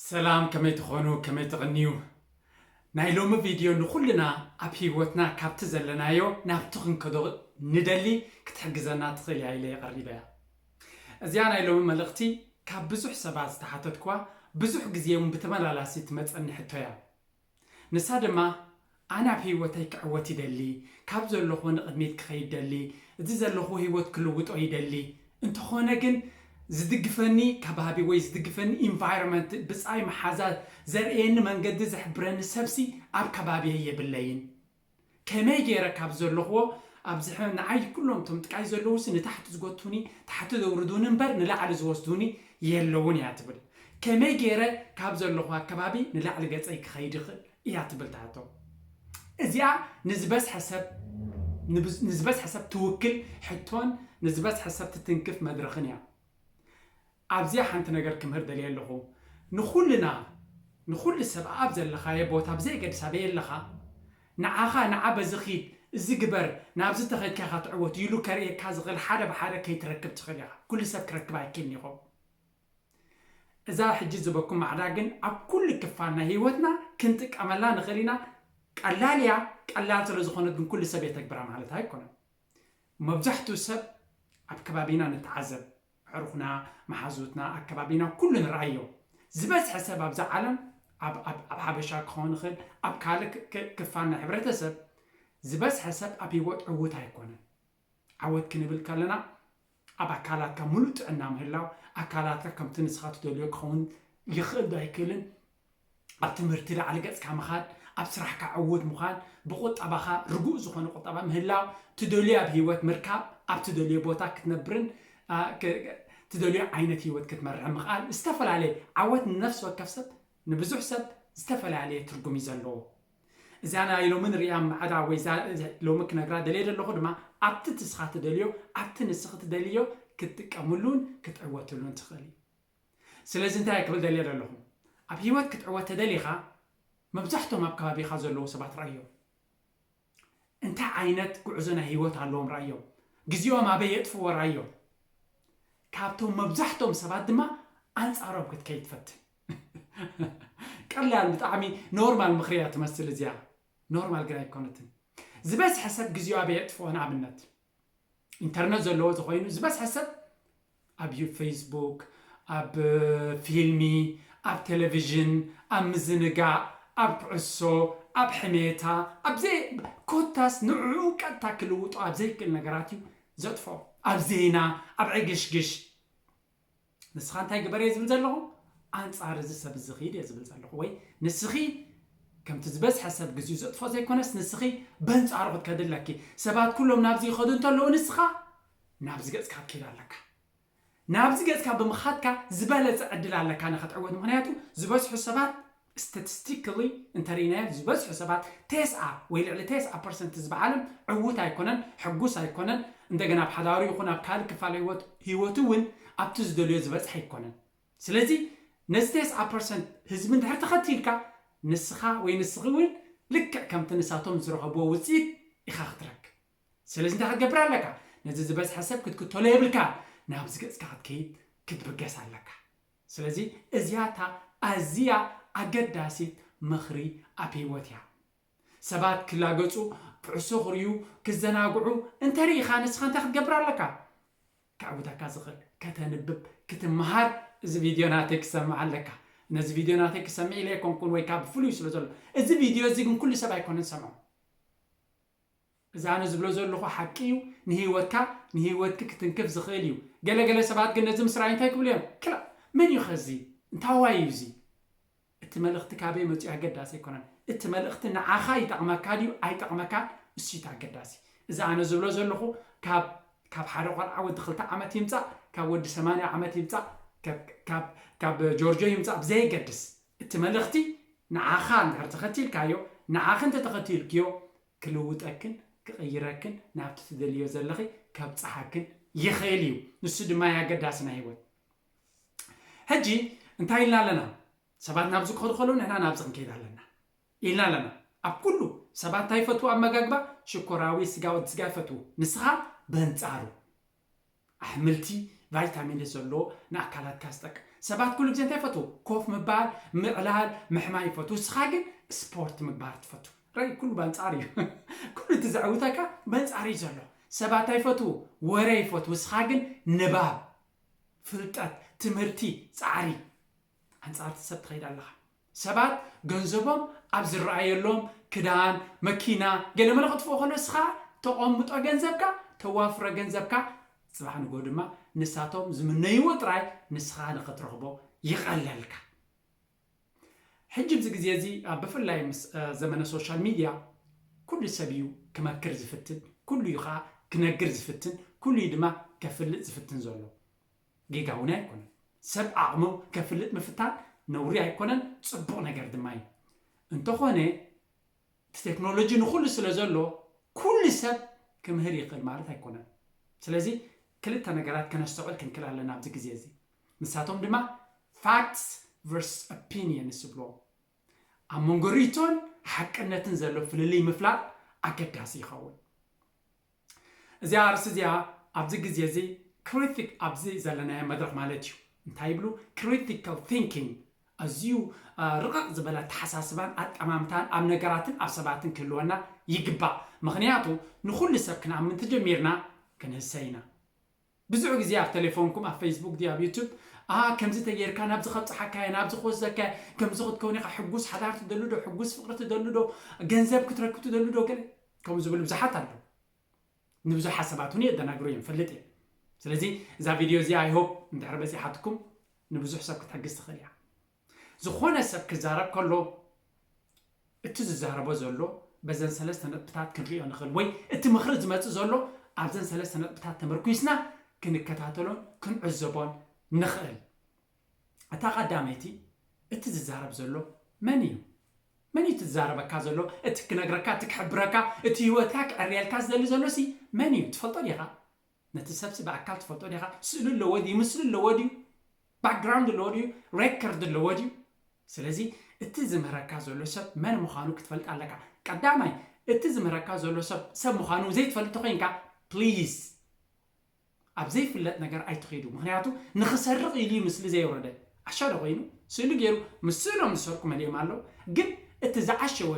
ሰላም ከመይ ትኾኑ ከመይ ትቕንዩ ናይ ሎሚ ቪድዮ ንኹልና ኣብ ህይወትና ካብቲ ዘለናዮ ናብቲ ክንከዶ ንደሊ ክትሕግዘና ትኽእል እያ ኢለ የቐሪበ እያ እዚኣ ናይ ሎሚ መልእኽቲ ካብ ብዙሕ ሰባት ዝተሓተትኳ ብዙሕ ግዜ እውን ብተመላላሲ ትመፀኒ ሕቶ እያ ንሳ ድማ ኣነ ኣብ ህይወተይ ክዕወት ይደሊ፣ ካብ ዘለኹዎ ንቕድሚት ክኸይድ ደሊ፣ እዚ ዘለኹዎ ህይወት ክልውጦ ይደሊ፣ እንተኾነ ግን ዝድግፈኒ ከባቢ ወይ ዝድግፈኒ environment ብጻይ መሓዛ ዘርእየኒ መንገዲ ዝሕብረኒ ሰብሲ ኣብ ከባቢየይ የብለይን። ከመይ ጌረ ካብ ዘለኽዎ ኣብዝሐ ንዓይ ኩሎም እቶም ጥቃይ ዘለዉሲ ንታሕቲ ዝጎቱኒ ታሕቲ ዘውርዱኒ እምበር ንላዕሊ ዝወስዱኒ የለዉን እያ ትብል ከመይ ጌረ ካብ ዘለኽዎ ኣከባቢ ንላዕሊ ገጸይ ክኸይድ ይኽእል እያ ትብል ትሓቶ እዚኣ ንዝበዝሐ ሰብ ንዝበዝሐ ሰብ ትውክል ሕቶን ንዝበዝሐ ሰብ ትትንክፍ መድረኽን እያ ኣብዚኣ ሓንቲ ነገር ክምህር ደልየ ኣለኹ ንኹልና ንኹሉ ሰብ ኣኣብ ዘለኻዬ ቦታ ብዘየገድስ ኣበይ ኣለኻ ንዓኻ ንዓ በዚ ኺድ እዚ ግበር ናብዚ ተኸድካ ኢኻ ትዕወት ኢሉ ከርእየካ ዝኽእል ሓደ ብሓደ ከይትረክብ ትኽእል ኢኻ ኩሉ ሰብ ክረክብ ኣይክልን ይኸው እዛ ሕጂ ዝበኩም ማዕዳ ግን ኣብ ኩሉ ክፋል ናይ ሂወትና ክንጥቀመላ ንኽእል ኢና ቀላል እያ ቀላል ስለ ዝኾነት ግን ኩሉ ሰብ የተግብራ ማለት ኣይኮነን መብዛሕትኡ ሰብ ኣብ ከባቢና ንተዓዘብ ኣዕሩኽና፣ መሓዙትና፣ ኣከባቢና ኩሉ ንርኣዮ። ዝበዝሐ ሰብ ኣብዛ ዓለም፣ ኣብ ኣብ ኣብ ሓበሻ ክኸውን ይኽእል፣ ኣብ ካልእ ክ ክ ክፋል ናይ ሕብረተሰብ፣ ዝበዝሐ ሰብ ኣብ ህይወት ዕዉት ኣይኮነን። ዓወት ክንብል ከለና ኣብ ኣካላትካ ምሉእ ጥዕና ምህላው፣ ኣካላትካ ከምቲ ንስኻ ትደልዮ ክኸውን ይኽእል ዶ ኣይክእልን ኣብ ትምህርቲ ላዕሊ ገጽካ ምኻድ፣ ኣብ ስራሕካ ዕዉት ምዃን፣ ብቑጠባኻ ርጉእ ዝኾነ ቁጠባ ምህላው፣ ትደልዮ ኣብ ህይወት ምርካብ፣ ኣብ ትደልዮ ቦታ ክትነብርን ትደልዮ ዓይነት ህይወት ክትመርሕን ምኽኣል ዝተፈላለየ ዓወት ንነፍሲ ወከፍ ሰብ ንብዙሕ ሰብ ዝተፈላለየ ትርጉም እዩ ዘለዎ። እዚኣ ናይ ሎሚ ንርእያ ማዕዳ ወይ ሎሚ ክነግራ ደልየ ዘለኹ ድማ ኣብቲ ትስኻ ትደልዮ ኣብቲ ንስኺ ትደልዮ ክትጥቀምሉን ክትዕወትሉን ትኽእሊ። ስለዚ እንታይ እየ ክብል ደልየ ዘለኹ፣ ኣብ ህይወት ክትዕወት ተደሊኻ መብዛሕቶም ኣብ ከባቢኻ ዘለዉ ሰባት ርኣዮም። እንታይ ዓይነት ጉዕዞ ናይ ህይወት ኣለዎም ርኣዮም። ግዜኦም ኣበይ የጥፍእዎ ርኣዮም። ካብቶም መብዛሕቶም ሰባት ድማ ኣንጻሮም ክትከይድ ፈትን። ቀላል ብጣዕሚ ኖርማል ምኽሪ እያ ትመስል እዚኣ፣ ኖርማል ግን ኣይኮነትን። ዝበዝሐ ሰብ ግዜኡ ኣበይ የጥፍኦ ንኣብነት ኢንተርነት ዘለዎ ተኾይኑ ዝበዝሐ ሰብ ኣብ ፌስቡክ፣ ኣብ ፊልሚ፣ ኣብ ቴሌቭዥን፣ ኣብ ምዝንጋዕ፣ ኣብ ኩዕሶ፣ ኣብ ሕሜታ፣ ኣብ ዘይ ኮታስ ንዕዑ ቀጥታ ክልውጦ ኣብ ዘይክእል ነገራት እዩ ዘጥፍኦ። ኣብ ዜና፣ ኣብ ዕግሽግሽ። ንስኻ እንታይ ግበር እየ ዝብል ዘለኹ ኣንጻር እዚ ሰብ እዚ ኺድ እየ ዝብል ዘለኹ ወይ ንስኺ ከምቲ ዝበዝሐ ሰብ ግዜኡ ዘጥፍኦ ዘይኮነስ ንስኺ በንጻሩ ክትከዲ ኣለኪ ሰባት ኩሎም ናብዚ ይኸዱ እንተለዉ ንስኻ ናብዚ ገጽካ ክትከይድ ኣለካ ናብዚ ገጽካ ብምኻድካ ዝበለጸ ዕድል ኣለካ ንኸትዕወት ምክንያቱ ዝበዝሑ ሰባት Statistically እንተሪኢናዮ ዝበዝሑ ሰባት ቴስዓ ወይ ልዕሊ ቴስዓ ፐርሰንት ዝበዓልም ዕዉት ኣይኮነን፣ ሕጉስ ኣይኮነን፣ እንደገና ኣብ ሓዳሩ ይኹን ኣብ ካልእ ክፋል ህይወት ህይወቱ እውን ኣብቲ ዝደልዮ ዝበፅሐ ኣይኮነን። ስለዚ ነዚ ቴስዓ ፐርሰንት ህዝቢ እንድሕር ተኸቲልካ ንስኻ ወይ ንስኺ እውን ልክዕ ከምቲ ንሳቶም ዝረኸብዎ ውፅኢት ኢኻ ክትረክብ። ስለዚ እንታይ ክትገብር ኣለካ? ነዚ ዝበዝሐ ሰብ ክትክተሎ የብልካን፣ ናብዚ ገፅካ ክትከይድ ክትብገስ ኣለካ። ስለዚ እዚኣ እታ ኣዝያ ኣገዳሲት ምኽሪ ኣብ ህይወት እያ። ሰባት ክላገጹ፣ ኩዕሶ ክርእዩ፣ ክዘናግዑ እንተ ርኢኻ ንስኻ እንታይ ክትገብር ኣለካ? ከዕውተካ ዝኽእል፣ ከተንብብ፣ ክትመሃር እዚ ቪድዮ ናተይ ክትሰምዕ ኣለካ። ነዚ ቪድዮ ናተይ ክሰምዕ ኢለ ኣይኮንኩን ወይ ከኣ ብፍሉይ ስለ ዘሎ። እዚ ቪድዮ እዚ ግን ኩሉ ሰብ ኣይኮነን ዝሰምዖ። እዚ ኣነ ዝብሎ ዘለኹ ሓቂ እዩ፣ ንህይወትካ ንህይወትኪ ክትንክፍ ዝኽእል እዩ። ገለ ገለ ሰባት ግን ነዚ ምስ ረኣዩ እንታይ ክብሉ እዮም፣ ክላእ! መን እዩ ከ እዚ? እንታዋይ እዩ እዚ? እቲ መልእኽቲ ካበይ መጺኡ ኣገዳሲ ኣይኮነን፣ እቲ መልእኽቲ ንዓኻ ይጠቕመካ ድዩ ኣይጠቕመካን እሱ እዩ እቲ ኣገዳሲ። እዚ ኣነ ዝብሎ ዘለኹ ካብ ካብ ሓደ ቆልዓ ወዲ ክልተ ዓመት ይምጻእ፣ ካብ ወዲ ሰማንያ ዓመት ይምጻእ፣ ካብ ካብ ጆርጆ ይምጻእ ብዘየገድስ፣ እቲ መልእኽቲ ንዓኻ እንድሕር ተኸቲልካዮ፣ ንዓኺ እንተተኸቲልክዮ፣ ክልውጠክን ክቕይረክን ናብቲ ትደልይዮ ዘለኺ ከብጽሓክን ይኽእል እዩ ንሱ ድማ እዩ ኣገዳሲ ናይ ህይወት ሕጂ እንታይ ኢልና ኣለና ሰባት ናብዚ ክኸዱ ከለዉ ንሕና ናብዚ ክንከይድ ኣለና ኢልና ኣለና ኣብ ኩሉ ሰባት እንታይ ይፈትዉ ኣመጋግባ ሽኮራዊ ስጋ ወዲ ስጋ ይፈትዉ ንስኻ በንጻሩ ኣሕምልቲ ቫይታሚን ዘለዎ ንኣካላትካ ዝጠቅም ሰባት ኩሉ ግዜ እንታይ ይፈትዉ ኮፍ ምባል ምዕላል ምሕማይ ይፈትዉ እስኻ ግን ስፖርት ምግባር ትፈቱ ራይ ኩሉ ባንጻር እዩ ኩሉ እቲ ዘዕውተካ በንጻር እዩ ዘሎ ሰባት እንታይ ይፈትዉ ወረ ይፈትዉ እስኻ ግን ንባብ ፍልጠት ትምህርቲ ጻዕሪ ኣንጻርቲ ሰብ ትኸይድ ኣለኻ ሰባት ገንዘቦም ኣብ ዝረኣየሎም ክዳን፣ መኪና፣ ገለመለ ክጥፍኡ ከሎ እስኻ ተቆምጦ ገንዘብካ፣ ተዋፍሮ ገንዘብካ ጽባሕ ንግሆ ድማ ንሳቶም ዝምነይዎ ጥራይ ንስኻ ንኽትረኽቦ ይቐለልካ። ሕጂ ኣብዚ ግዜ እዚ ብፍላይ ምስ ዘመነ ሶሻል ሚድያ ኩሉ ሰብ እዩ ክመክር ዝፍትን፣ ኩሉ እዩ ከኣ ክነግር ዝፍትን፣ ኩሉ እዩ ድማ ከፍልጥ ዝፍትን ዘሎ። ጌጋ እውን ኣይኮነን። ሰብ ዓቕሙ ከፍልጥ ምፍታን ነውሪ ኣይኮነን፣ ጽቡቕ ነገር ድማ እዩ። እንተኾነ እቲ ቴክኖሎጂ ንኹሉ ስለ ዘሎ ኩሉ ሰብ ክምህር ይኽእል ማለት ኣይኮነን። ስለዚ ክልተ ነገራት ከነስተውዕል ክንክል ኣለና ኣብዚ ግዜ እዚ። ንሳቶም ድማ facts versus opinions ይብልዎም። ኣብ መንጎ ርእይቶን ሓቅነትን ዘሎ ፍልልይ ምፍላጥ ኣገዳሲ ይኸውን። እዚኣ ኣርእስቲ እዚኣ ኣብዚ ግዜ እዚ ክሪቲክ ኣብዚ ዘለናዮ መድረኽ ማለት እዩ እንታይ ይብሉ ክሪቲካል ቲንኪንግ ኣዝዩ ርቕቕ ዝበለ ኣተሓሳስባን ኣጠማምታን ኣብ ነገራትን ኣብ ሰባትን ክህልወና ይግባእ ምኽንያቱ ንኹሉ ሰብ ክንኣምን ተጀሚርና ክንህሰ ኢና ብዙሕ ግዜ ኣብ ተሌፎንኩም ኣብ ፈይስቡክ ድዩ ኣብ ዩቱብ ኣኣ ከምዚ ተጌርካ ናብዚ ከብጽሓካ እየ ናብዚ ክወስደካ እየ ከምዚ ክትከውን ኢኻ ሕጉስ ሓዳር ትደሊ ዶ ሕጉስ ፍቅሪ ትደሊ ዶ ገንዘብ ክትረክብ ትደሊ ዶ ገለ ከምኡ ዝብሉ ብዙሓት ኣለዉ ንብዙሕ ሓሳባት እውን የደናግሩ እዮም ፈልጥ እየ ስለዚ እዛ ቪድዮ እዚኣ ኣይሆፕ እንድሕር በጺሓትኩም ንብዙሕ ሰብ ክትሕግዝ ትኽእል እያ ዝኾነ ሰብ ክዛረብ ከሎ እቲ ዝዛረቦ ዘሎ በዘን ሰለስተ ነጥብታት ክንሪኦ ንኽእል ወይ እቲ ምኽሪ ዝመጽእ ዘሎ ኣብዘን ሰለስተ ነጥብታት ተመርኲስና ክንከታተሎን ክንዕዘቦን ንኽእል። እታ ቀዳመይቲ እቲ ዝዛረብ ዘሎ መን እዩ? መን እዩ እቲ ዝዛረበካ ዘሎ? እቲ ክነግረካ፣ እቲ ክሕብረካ፣ እቲ ህይወትካ ክዕርየልካ ዝደሊ ዘሎሲ መን እዩ? ትፈልጦ ዲኻ? ነቲ ሰብሲ ብኣካል ትፈልጦ ዲኻ? ስእሉ ኣለዎ ድዩ? ምስሊ ኣለዎ ድዩ? ባክግራውንድ ኣለዎ ድዩ? ሬከርድ ኣለዎ ድዩ? ስለዚ እቲ ዝምህረካ ዘሎ ሰብ መን ምዃኑ ክትፈልጥ ኣለካ። ቀዳማይ እቲ ዝምህረካ ዘሎ ሰብ ሰብ ምዃኑ ዘይትፈልጥ ተኾይንካ ፕሊዝ ኣብ ዘይፍለጥ ነገር ኣይትኺዱ። ምክንያቱ ንኽሰርቕ ኢሉ እዩ ምስሊ ዘየውረደ። ዓሻ ዶ ኮይኑ ስእሉ ጌሩ ምስ ስእሎም ዝሰርቁ መሊኦም ኣለው ግን እቲ ዝዓሸወ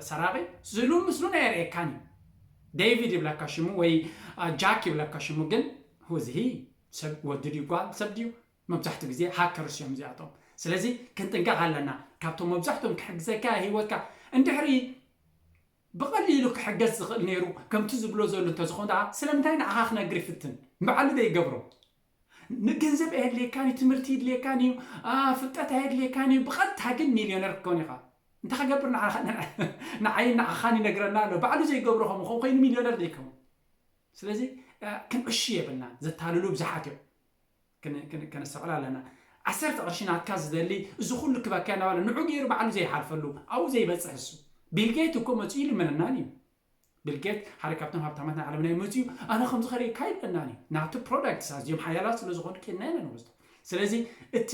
ሰራቂ ስእሉን ምስሉን ኣየርእየካን እዩ ዴቪድ ይብለካ ሽሙ ወይ ጃክ ይብለካ ሽሙ ግን who is he ሰብ ወዲ ድዩ ጓል ሰብ ድዩ መብዛሕትኡ ግዜ ሃከርስ እዮም እዚኣቶም ስለዚ ክንጥንቀቕ ኣለና ካብቶም መብዛሕትኦም ክሕግዘካ ሂወትካ እንድሕሪ ብቐሊሉ ክሕገዝ ዝኽእል ነይሩ ከምቲ ዝብሎ ዘሎ እንተዝኾን ደኣ ስለምንታይ ንዓኻ ክነግር ይፍትን ንባዕሉ ዘይገብሮ ንገንዘብ ኣየድልየካን እዩ፣ ትምህርቲ ይድልየካን እዩ፣ ፍልጠት ኣየድልየካን እዩ፣ ብቐጥታ ግን ሚልዮነር ክትከውን ኢኻ። እንታይ ክገብር ንዓይን ንዓኻን ይነግረና ኣሎ። ባዕሉ ዘይገብሮ ከም ኾን ኮይኑ ሚልዮነር ዘይከውን። ስለዚ ክንዕሹ የብልናን፣ ዘታልሉ ብዙሓት እዮም። ከነስተውዕል ኣለና ዓሰርተ ቅርሺ ናትካ ዝደሊ እዚ ኩሉ ክበካ እናበለ ንዑ ገይሩ ባዕሉ ዘይሓልፈሉ ኣብኡ ዘይበፅሕ እሱ ቢልጌት እኮ መፅኡ ይልምነናን እዩ ቢል ጌት ሓደ ካብቶም ሃብታማት ናይ ዓለምና እዩ መጺኡ ኣነ ከምዚ ከርእካ ይብለናን እዩ ናቱ ፕሮዳክትስ ኣዝዮም ሓያላት ስለ ዝኾኑ ኬድና ኢና ንወስዶ ስለዚ እቲ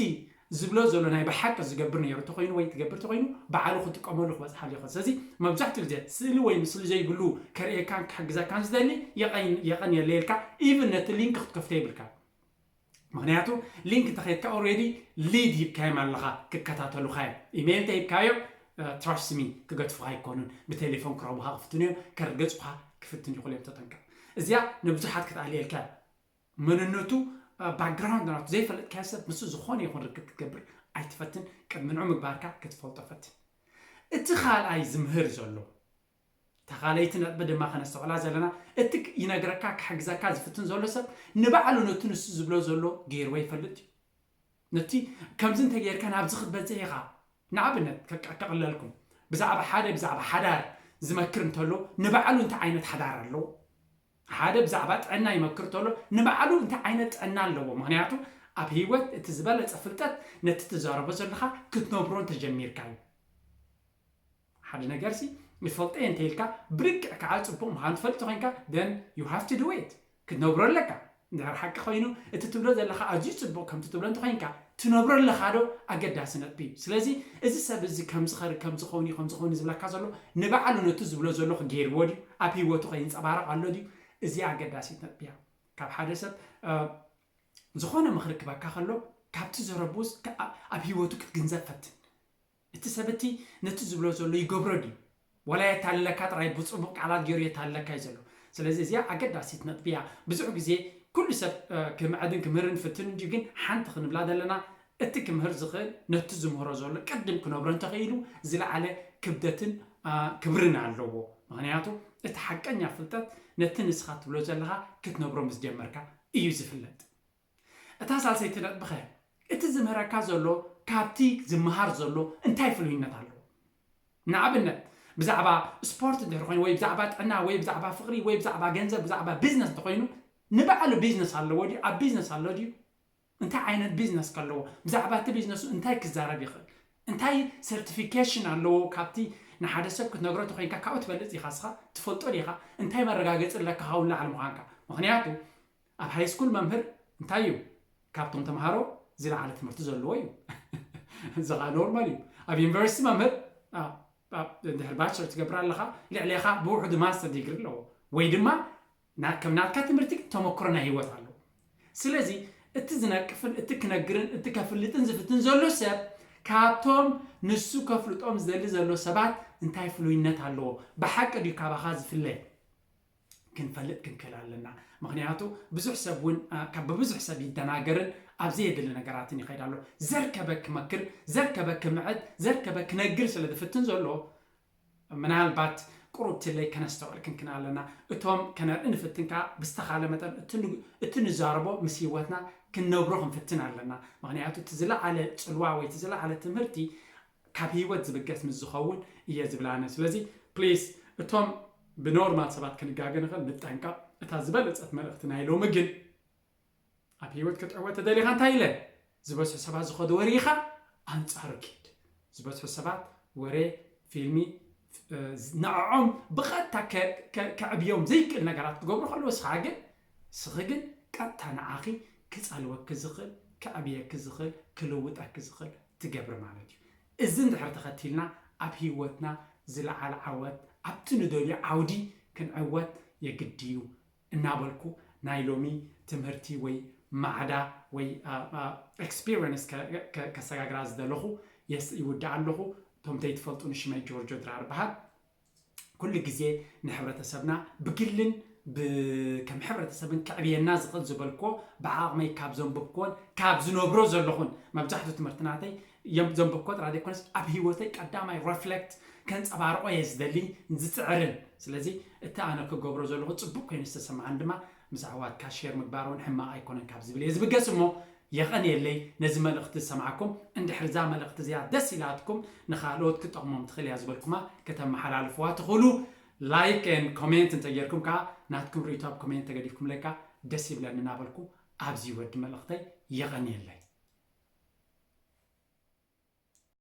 ዝብሎ ዘሎ ናይ ብሓቂ ዝገብር ነይሩ ተኮይኑ ወይ ትገብር ተኮይኑ በዓሉ ክጥቀመሉ ክበፅሓሉ ይኽእል ስለዚ መብዛሕትኡ ግዜ ስእሊ ወይ ምስሊ ዘይብሉ ከርእየካን ክሕግዘካን ዝደሊ የቐን የቐን የለየልካ ኢቭን ነቲ ሊንክ ክትከፍቶ የብልካ ምክንያቱ ሊንክ እንተከድካ ኦሬዲ ሊድ ሂብካዮም ኣለካ ክከታተሉካ እዮም ኢሜይል ተሂብካዮም ትራስት ሚ ክገድፉካ ኣይኮኑን ብቴሌፎን ክረቡካ ክፍትኑ እዮም ከርገጹካ ክፍትኑ ይኽእሉ እዮም ተጠንቀቕ እዚኣ ንብዙሓት ክትኣልየልካ እያ መንነቱ ባክግራውንድ ናቱ ዘይፈለጥካዮ ሰብ ምስ ዝኾነ ይኹን ርክብ ክትገብር ኣይትፈትን ቅድሚ ንዑ ምግባርካ ክትፈልጦ ፈትን እቲ ካልኣይ ዝምህር ዘሎ ተኻለይቲ ነጥቢ ድማ ከነስተውዕላ ዘለና፣ እቲ ይነግረካ ክሕግዘካ ዝፍትን ዘሎ ሰብ ንባዕሉ ነቲ ንሱ ዝብሎ ዘሎ ገይርዎ ይፈልጥ ድዩ? ነቲ ከምዚ እንተገይርካ ናብዚ ክትበጽሕ ኢኻ፣ ንኣብነት ከቅለልኩም ብዛዕባ ሓደ ብዛዕባ ሓዳር ዝመክር እንተሎ ንባዕሉ እንታይ ዓይነት ሓዳር ኣለዎ? ሓደ ብዛዕባ ጥዕና ይመክር እንተሎ ንባዕሉ እንታይ ዓይነት ጥዕና ኣለዎ? ምክንያቱ ኣብ ህይወት እቲ ዝበለጸ ፍልጠት ነቲ ትዛረቦ ዘለኻ ክትነብሮ እንተጀሚርካ እዩ። ሓደ ነገርሲ ይፈልጦ'የ እንተኢልካ ብርግዕ ከኣ ጽቡቕ ምዃኑ ትፈልጥ ተኾይንካ then you have to do it ክትነብሮ ኣለካ እንድሕር ሓቂ ኮይኑ እቲ ትብሎ ዘለኻ ኣዝዩ ጽቡቕ ከምቲ ትብሎ እንተኾይንካ ትነብሮ ኣለኻዶ ኣገዳሲ ነጥቢ እዩ ስለዚ እዚ ሰብ እዚ ከምዚ ኸሪ ከምዚ ኸውን'ዩ ከምዚ ኸውን'ዩ ዝብለካ ዘሎ ንባዕሉ ነቲ ዝብሎ ዘለኹ ገይርዎ ድዩ ኣብ ህይወቱ ከ ይንጸባረቕ ኣሎ ድዩ እዚኣ ኣገዳሲት ነጥቢ እያ ካብ ሓደ ሰብ ዝኾነ ምኽሪ ክበካ ከሎ ካብቲ ዘረብኡስ ኣብ ህይወቱ ክትግንዘብ ፈትን እቲ ሰብ እቲ ነቲ ዝብሎ ዘሎ ይገብሮ ድዩ ዋላ የታልለካ ጥራይ ብጽቡቕ ቃላት ጌሩ የታልለካ እዩ ዘሎ። ስለዚ እዚኣ ኣገዳሲት ነጥቢ እያ። ብዙሕ ግዜ ኩሉ ሰብ ክምዕድን ክምህርን ይፍትን እንድዩ ግን ሓንቲ ክንብላ ዘለና እቲ ክምህር ዝኽእል ነቲ ዝምህሮ ዘሎ ቅድም ክነብሮ እንተኽኢሉ ዝለዓለ ክብደትን ክብርን ኣለዎ። ምኽንያቱ እቲ ሓቀኛ ፍልጠት ነቲ ንስኻ ትብሎ ዘለኻ ክትነብሮ ምስ ጀመርካ እዩ ዝፍለጥ። እታ ሳልሰይቲ ነጥቢኸ እቲ ዝምህረካ ዘሎ ካብቲ ዝመሃር ዘሎ እንታይ ፍሉይነት ኣለዎ? ንኣብነት ብዛዕባ ስፖርት እንድሕር ኮይኑ ወይ ብዛዕባ ጥዕና ወይ ብዛዕባ ፍቕሪ ወይ ብዛዕባ ገንዘብ ብዛዕባ ቢዝነስ እንተኾይኑ ንባዕሉ ቢዝነስ ኣለዎ ድዩ ኣብ ቢዝነስ ኣሎ ድዩ እንታይ ዓይነት ቢዝነስ ከለዎ ብዛዕባ እቲ ቢዝነሱ እንታይ ክዛረብ ይኽእል እንታይ ሰርቲፊኬሽን ኣለዎ ካብቲ ንሓደ ሰብ ክትነግሮ ተኮይንካ ካብኡ ትበልፅ ኢኻ ስኻ ትፈልጦ ዲኻ እንታይ መረጋገፂ ኣለካ ካብኡ ንላዕሊ ምዃንካ ምክንያቱ ኣብ ሃይስኩል መምህር እንታይ እዩ ካብቶም ተምሃሮ ዝለዓለ ትምህርቲ ዘለዎ እዩ እዚ ከዓ ኖርማል እዩ ኣብ ዩኒቨርሲቲ መምህር ድሕሪ ባቸለር ትገብር ኣለኻ ልዕሌኻ ብውሕዱ ማስተር ዲግሪ ኣለዎ ወይ ድማ ከም ናትካ ትምህርቲ ግን ተመክሮ ናይ ሂወት ኣለዎ ስለዚ እቲ ዝነቅፍን እቲ ክነግርን እቲ ከፍልጥን ዝፍትን ዘሎ ሰብ ካብቶም ንሱ ከፍልጦም ዝደሊ ዘሎ ሰባት እንታይ ፍሉይነት ኣለዎ ብሓቂ ድዩ ካባኻ ዝፍለ ክንፈልጥ ክንክእል ኣለና። ምክንያቱ ብዙሕ ሰብ እውን ካብ ብብዙሕ ሰብ ይደናገርን ኣብ ዘየድሊ ነገራትን ይኸይድ ኣሎ። ዘርከበ ክመክር፣ ዘርከበ ክምዕድ፣ ዘርከበ ክነግር ስለ ዝፍትን ዘሎ ምናልባት ቁሩብ ትለይ ከነስተውዕል ክንክን ኣለና። እቶም ከነርኢ ንፍትን ከኣ ብዝተኻለ መጠን እቲ ንዛረቦ ምስ ህይወትና ክንነብሮ ክንፍትን ኣለና። ምክንያቱ እቲ ዝለዓለ ጽልዋ ወይ እቲ ዝለዓለ ትምህርቲ ካብ ሂወት ዝብገስ ምስ ዝኸውን እየ ዝብል ኣነ ስለዚ ፕሊስ እቶም ብኖርማል ሰባት ክንጋገ ንኽእል ንጠንቀቕ እታ ዝበለጸት መልእኽቲ ናይ ሎሚ ግን ኣብ ሂወት ክትዕወት ተደሊኻ እንታይ ኢለ ዝበዝሑ ሰባት ዝኸዱ ወሪኻ ኣንጻሩ ኪድ ዝበዝሑ ሰባት ወሬ ፊልሚ ንዕዖም ብቐጥታ ከዕብዮም ዘይክእል ነገራት ክገብሩ ከለዉ ንስኻ ግን ንስኺ ግን ቀጥታ ንዓኺ ክጸልወኪ ዝኽእል ከዕብየኪ ዝኽእል ክልውጠኪ ዝኽእል ትገብሪ ማለት እዩ እዚ እንድሕር ተኸቲልና ኣብ ህይወትና ዝለዓለ ዓወት ኣብቲ ንደልዮ ዓውዲ ክንዕወት የግድዩ እናበልኩ ናይ ሎሚ ትምህርቲ ወይ ማዕዳ ወይ ኤክስፒረንስ ከሰጋግራ ዝደለኹ የስ ይውድኣ ኣለኹ። እቶም ዘይትፈልጡኒ ሽመይ ጆርጆ ድራር እበሃል። ኩሉ ግዜ ንሕብረተሰብና ብግልን ከም ሕብረተሰብን ከዕብየና ዝኽእል ዝበልክዎ ብዓቕመይ ካብ ዘንብብክዎን ካብ ዝነብሮ ዘለኹን መብዛሕትኡ ትምህርቲ ናተይ እዮም እዞም ብርኮት ራድዮ ኮንስ ኣብ ሂወተይ ቀዳማይ ረፍለክት ከንጸባርቆ እየ ዝደሊ ዝጽዕርን ስለዚ እቲ ኣነ ክገብሮ ዘለኩ ጽቡቅ ኮይኑ ዝተሰማዓኒ ድማ ምስ ኣሕዋትካ ሼር ምግባር ውን ሕማቅ ኣይኮነን ካብ ዝብል እየ ዝብገስ እሞ የቀንየለይ ነዚ መልእክቲ ዝሰማዕኩም እንድሕር እዛ መልእክቲ እዚኣ ደስ ኢላትኩም ንካልኦት ክጠቅሞም ትክእል እያ ዝበልኩማ ከተመሓላልፍዋ ትክእሉ ላይክ and ኮሜንት እንተጌርኩም ከኣ ናትኩም ሪኢቶ ኣብ ኮሜንት ተገዲፍኩምለይ ከኣ ደስ ይብለኒ እናበልኩ ኣዚ ወዲ መልእኽተይ የቐንየለይ።